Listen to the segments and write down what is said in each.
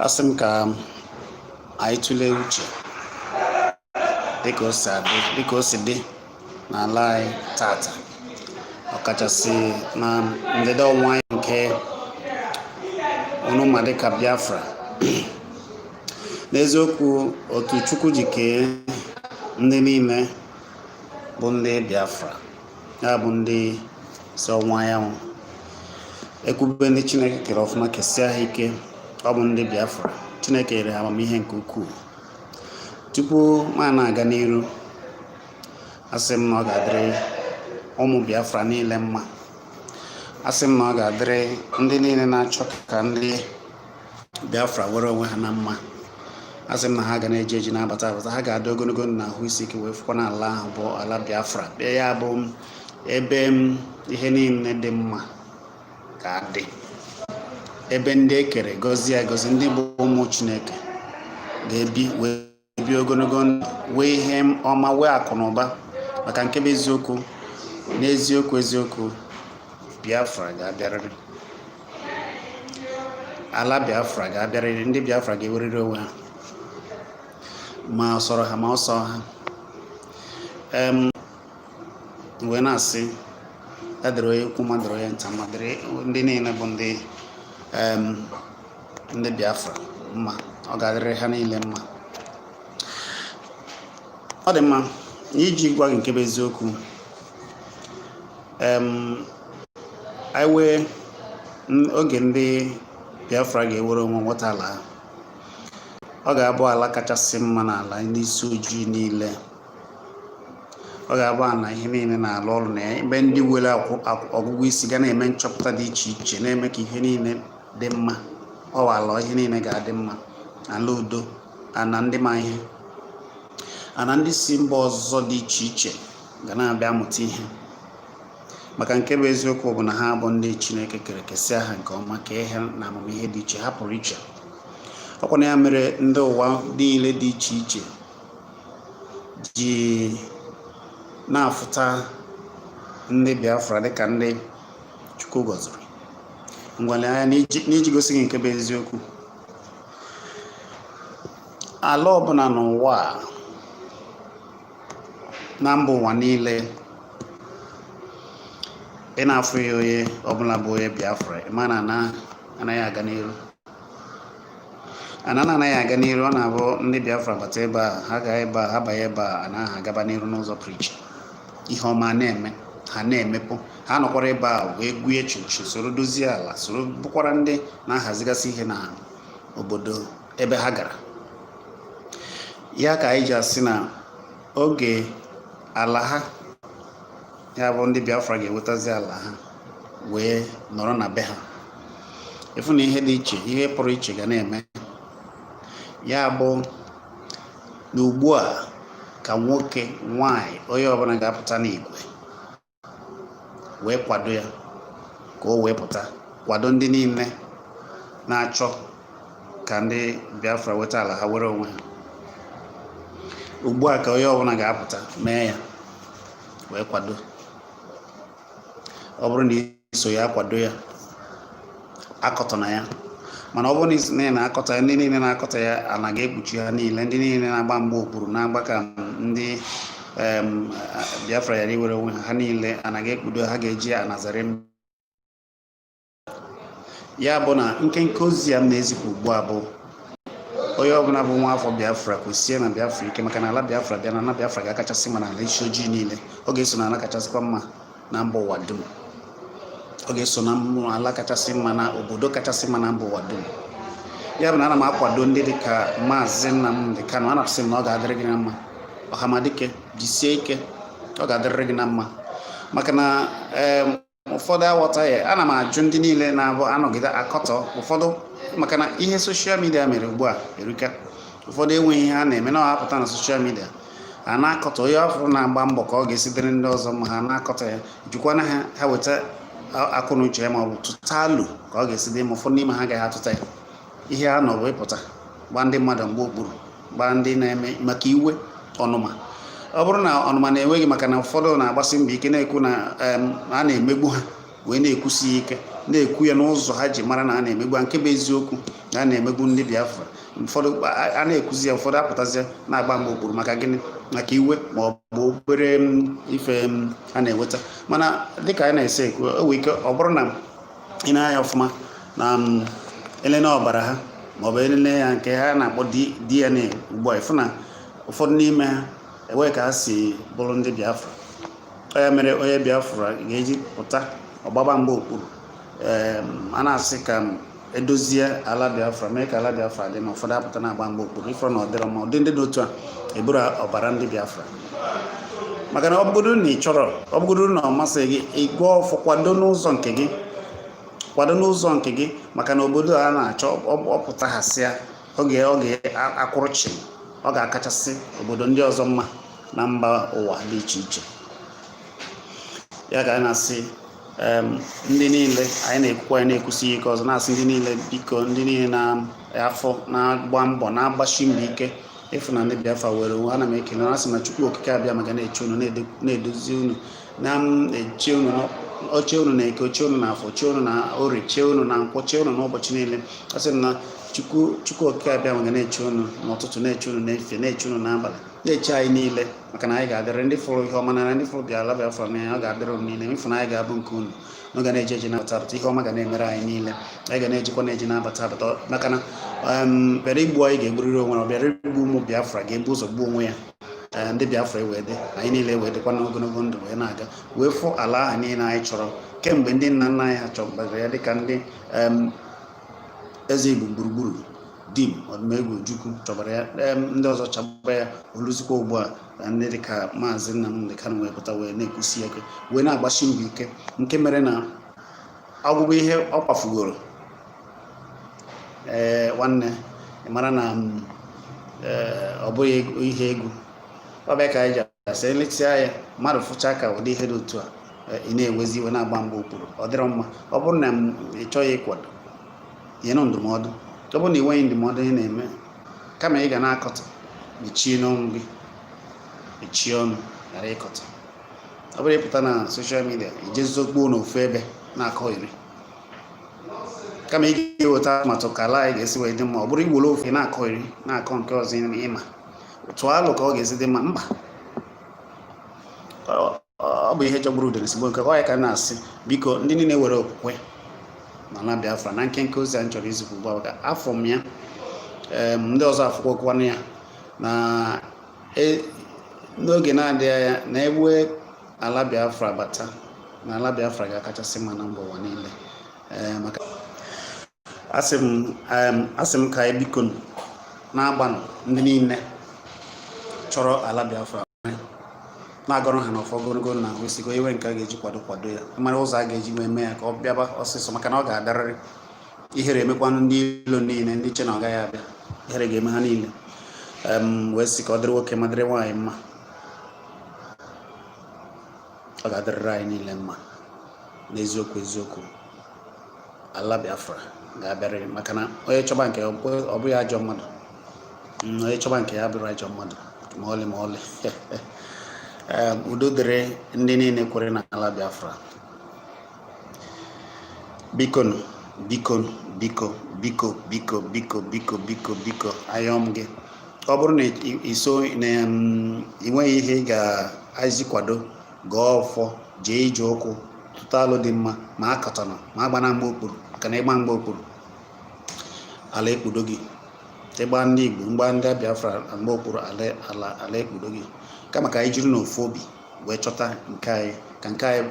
asị m ka anyị tụlee uche dịka o si dị n'ala anyị tata ọkachasị na ndịda ọwụwa anyanwụ nke unu ma dịka biafra n'eziokwu otu chukwu ji kee ndị niile bụ ndị biafra ya bụ ndị si ọwụwa anyanwụ ekwube ndị chineke kere ọfụma kesia ha ike ọ bụ ndị biafra chineke nyere ha amamihe nke ukwuu tupu m na-aga n'iru asị m na ọ ga-adịrị ụmụ biafra niile mma asị m na ọ ga-adịrị ndị niile na-achọ ka ndị Biafra were onwe ha na mma asị m na ha ga na-eje eje na-abata abata ha ga-adị ogologo ndụ na ahụ isi ike wee fụkwa na ala ahụ bụ ala Biafra bịa ya bụ ebe ihe niile dị mma ga-adị ebe ndị e kere gọzie agọzi ndị bụ ụmụ Chineke ga-ebi wee ebi ogologo ndụ wee ihe ọma wee akụ na ụba maka nke bụ eziokwu n'eziokwu eziokwu biafra ga-abịarịrị ala biafra ga-abịarịrị ndị biafra ga-ewerịrị onwe ha ma ọ sọrọ ha ma ọ sọ ha wee na-asị ya dịrị onye ukwu ma dịrị onye nta ma dịrị ndị niile bụ ndị ndị Biafra mma ọ ga-adịrị ha niile mma ọ dị mma n'iji gwa gị nke bụ eziokwu anyị wee oge ndị Biafra ga-ewere onwe nweta ala ha ọ ga-abụ ala kachasị mma n'ala ndị isi ojii niile ọ ga-abụ ala ihe niile na-alụ ọrụ na ya ebe ndị were ọgụgụ isi ga na-eme nchọpụta dị iche iche na-eme ka ihe niile dị mma ọ bụ ala ihe niile ga-adị mma ala udo ana ndị ma ihe ana ndị si mba ọzọ dị iche iche ga na-abịa amụta ihe maka nke bụ eziokwu bụ na ha bụ ndị chineke kere kesịa ha nke ọma kee ha na amamihe dị iche ha pụrụ iche ọkwa na ya mere ndị ụwa niile dị iche iche ji na-afụta ndị biafra dịka ndị chukwu gọziri ngwa lee anya n'iji gosi gị nke bụ eziokwu ala ọbụla n'ụwa a na mba ụwa niile ị na-afụghị onye ọbụla bụ onye Biafra ị ma na anaghị aga n'iru ana na anaghị aga n'iru ọ na-abụ ndị biafra bata ebe a ha gaa ebe a ha banye ebe a ana a agaba n'iru n'ụzọ pụrụ iche ihe ọma na-eme ha na-emepụ ha nọkwara ebe a wee gwuye echichi soro dozie ala soro bụkwara ndị na-ahazigasị ihe na obodo ebe ha gara ya ka anyị ji asị na oge ala ha ya bụ ndị Biafra ga-ewetazi ala ha wee nọrọ na be ha ịfụ na ihe dị iche ihe pụrụ iche ga na-eme ya bụ na ugbu a ka nwoke nwanyị onye ọbụla ga-apụta n'igwe wee kwado ya ka o wee pụta kwado ndị niile na-achọ ka ndị Biafra weta ala ha were onwe ha ugbu a ka onye ọbụla ga-apụta mee ya wee kwado ọ bụrụ na soghị akwado ya akọtọna ya mana ọ bụrụ na i so na-akọtọ ya ndị niile na-akọtọ ya ana ga-ekpuchi ha niile ndị niile na-agba mgba okpuru na-agba ka ndị em, a- biafra ghara iwere onwe ha ha niile ana ga-ekpudo ha ga-eji anazarị m ya bụ na nkenke ozi a m na-ezipụ ugbu a bụ onye ọbụla bụ nwa afọ biafra kwụsie na biafra ike maka na ala biafra bịa na ala biafra ga-akachasị mma na ala isi ojii niile ọ ga-eso na ala kachasịkwa mma na mba ụwa dum ọ ga-eso na ala kachasị mma na obodo kachasị mma na mba ụwa dum ya bụ na ana m akwado ndị dị ka maazị Nnamdi Kanu ana m asị na ọ ga-adịrị gị na mma ọhamadike jisie ike ọ ga-adịrịrị gị na mma maka na ụfọdụ aghọtaghị ana m ajụ ndị niile na-abụ anọgide akọtọ ụfọdụ maka na ihe social media mere ugbu a erika ụfọdụ enweghị ihe ha na-eme na-apụta na social media a na-akọtọ onye a fụrụ na-agba mbọ ka ọ ga-esi dịrị ndị ọzọ mma ha na-akọtọ ya jụkwanụ ha ha weta akọ na uche ha ma ọ bụ tụta alo ka ọ ga-esi dị mma ụfọdụ n'ime ha agaghị atụta ya ihe ha nọ bụ ịpụta gbaa ndị mmadụ mgba okpuru gbaa ndị na-eme maka iwe ọnụma ọ bụrụ na ọnụma na-ewe gị maka na ụfọdụ na-agbasi mbọ ike na-ekwu na a na-emegbu ha wee na-ekwusi ya ike na-ekwu ya n'ụzọ ha ji mara na a na-emegbu ha nke bụ eziokwu na a na-emegbu ndị Biafra ụfọdụ a na-ekwuzi ya ụfọdụ apụtazi na-agba mgba okpuru maka gịnị maka iwe ma ọ bụ obere ife ha na-enweta mana dịka anyị na-esi ekwu o nwere ike ọ bụrụ na i nee anya ọfụma na e lele ọbara ha maọbụ e lele ya nke ha na-akpọ DNA ugbu a ịfụ na ụfọdụ n'ime ha enweghị ka ha si bụrụ ndị Biafra ọ ya mere onye biafra ga-eji pụta ọ gbaba mgba okpuru a na-asị ka edozie ala biafra mee ka ala biafra dị na ụfọdụ apụta na-agba mgba okpuru ị fụrụ na ọ dịrọ mma ụdị ndị dị otu a eburo ọbara ndị biafra maka na ọ bụrụ na ị chọrọ ọ bụrụ na ọ masịghị gị ịgọ ọfọ kwado n'ụzọ nke gị kwado n'ụzọ nke gị maka na obodo a na-achọ ọ pụta ha sịa ọ ga-akwụrụ chịm ọ ga-akachasị obodo ndị ọzọ mma na mba ụwa dị iche iche ya ka anyị na-asị ndị niile anyị na-ekwukwa anyị na-ekwusi ike ọzọ na-asị ndị niile biko ndị niile na afọ na-agba mbọ na-agbasi mbọ ike ịfụ na ndị Biafra nwere onwe ana m ekele na-asị na Chukwu Okike Abịama ga na-eche unu na-edozi unu na-eche unu o chee unu na eke o chee unu na afọ o chee unu na orie chee unu na nkwọ chee unu n'ụbọchị niile asị na Chukwu Okike Abịama ga na-eche unu n'ụtụtụ na-eche unu n'efifie na-eche unu n'abalị na-eche anyị niile maka na anyị ga-adịrị ndị fụrụ ihe ọma na ndị fụrụ bịa ala biafra n'anya ọ ga-adịrị unu niile ịfụnanya ga-abụ nke unu na ọ ga na-eje eje na-abata abata ihe ọma ga na-emere anyị niile anyị ga na-ejekwa na-eje na-abata abata maka na em, bịara igbu anyị ga-egburịrị onwe ya ọ bịara igbu ụmụ biafra ga-ebu ụzọ gbuo onwe ya Ee, ndị biafra ewee dị anyị niile ewee dịkwa n'ogologo ndụ wee na-aga wee fụ ala ahụ niile anyị chọrọ kemgbe ndị nna nna anyị ha chọbara ya dịka ndị em, eze igbo gburugburu Dim Odumegwu Ojukwu chọbara ya em ndị ọzọ chọba ya o luzikwa ugbu a ndị dịka maazị Nnamdi Kanu wee pụta wee na-ekwusi ya ike wee na-agbasi mbọ ike nke mere na ọgwụgwụ ihe ọ kwafugoro ee nwanne ị mara na mm, ee, ọ bụghị ego- ihe egwu ọ bụ ya ka anyị ji asị emesịa ya mmadụ fụcha ka ụdị ihe dị otu a eh, ị na-ewezi iwe na-agba mgba okpuru ọ dịrọ mma ọ bụrụ na ị chọghị ịkwado nyenụ ndụmọdụ ọ bụrụ na ị nweghị ndụmọdụ ị na-eme kama ị ga na-akọtọ mechienụ ọnụ gị mechie ọnụ ghara ịkọtọ ọ bụrọ ịpụta na social media i jezie zokpuo n'ofu ebe na-akọyeri kama ị ga-eweta atụmatụ ka ala anyị ga-esi wee dị mma ọ bụrụ i were ofe na-akọyeri na-akọ nke ọzọ ị ma tụọ alo ka ọ ga-esi dị mma mba ọ bụ ihe jọgburu udele sigbuo nkakwụ ya ka a na-asị biko ndị niile nwere okwukwe na ala Biafra na nkenke ozi a m chọrọ izipụ ugbu a ka afụ m ya ndị ọzọ afụkwakwanụ ya na e, n'oge na-adịghị anya na e wee ala Biafra bata na ala Biafra ga-akachasị mma na mba ụwa niile maka asị m em, asị m ka anyị biko na-agbanụ ndị niile chọrọ ala biafra na-agọrọ ha n'ọfọ ogologo na ahụ isigo iwe nke a ga-eji kwado kwado ya mara ụzọ a ga-eji wee mee ya ka ọ bịaba ọsịsọ maka na ọ ga-adarịrị ihere emekwanụ ndị ilo niile ndị che na ọ gaghị abịa ihere ga-eme ha niile em, wee sị ka ọ dịrị nwoke ma dịrị nwaanyị mma ọ ga-adịrịrị anyị niile mma n'eziokwu eziokwu ala Biafra ga-abịarịrị maka na onye chọba nke ọ bụghị ajọ mmadụ mm, onye chọba nke ya abụrọ ajọ mmadụ ma ọlị ma ọlị udo dịrị ndị niile kwere n'ala Biafra bikonu bikonu biko biko biko biko biko biko biko ayọọ m gị ọ bụrụ na i- i so na mm, i nweghị ihe ị ga-eji kwado gọọ ọfọ jee ije ụkwụ tụta alo dị mma ma akatọna ma agbana mgba okpuru maka na ịgba mgba okpuru ala ekpudo gị ịgba ndị igbo mgba ndị biafra mgba okpuru ala ala ala ekpudo gị kama ka anyị jiri n'ofu obi wee chọta nke anyị ka nke anyị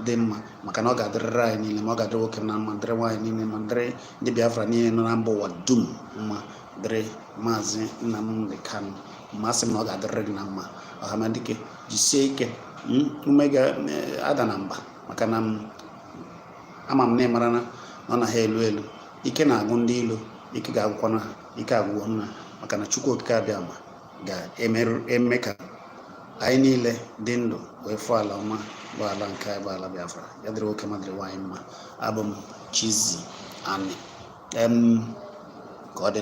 dị mma maka na ọ ga-adịrịrị anyị niile mma ọ ga-adịrị nwoke na mma dịrị nwaanyị niile ma dịrị ndị Biafra niile nọ na mba ụwa dum mma dịrị maazị Nnamdi Kanu mma asị m na ọ ga-adịrịrị gị na mma ọhamadike jisie ike hmm, ume gị adana mba maka na hmm, ama m na ị mara na ọ na ha elu elu ike na-agwụ ndị ilo ike ga-agwụkwana ha ike agwụgwo ha maka na Chukwu Okike Abịama ga-eme ka anyị niile dị ndụ wee fụ ala ọma bụ ala nke anyị bụ ala Biafra ya dịrị nwoke ma dịrị nwaanyị mma abụ m Chizzy Ani ka ọ dị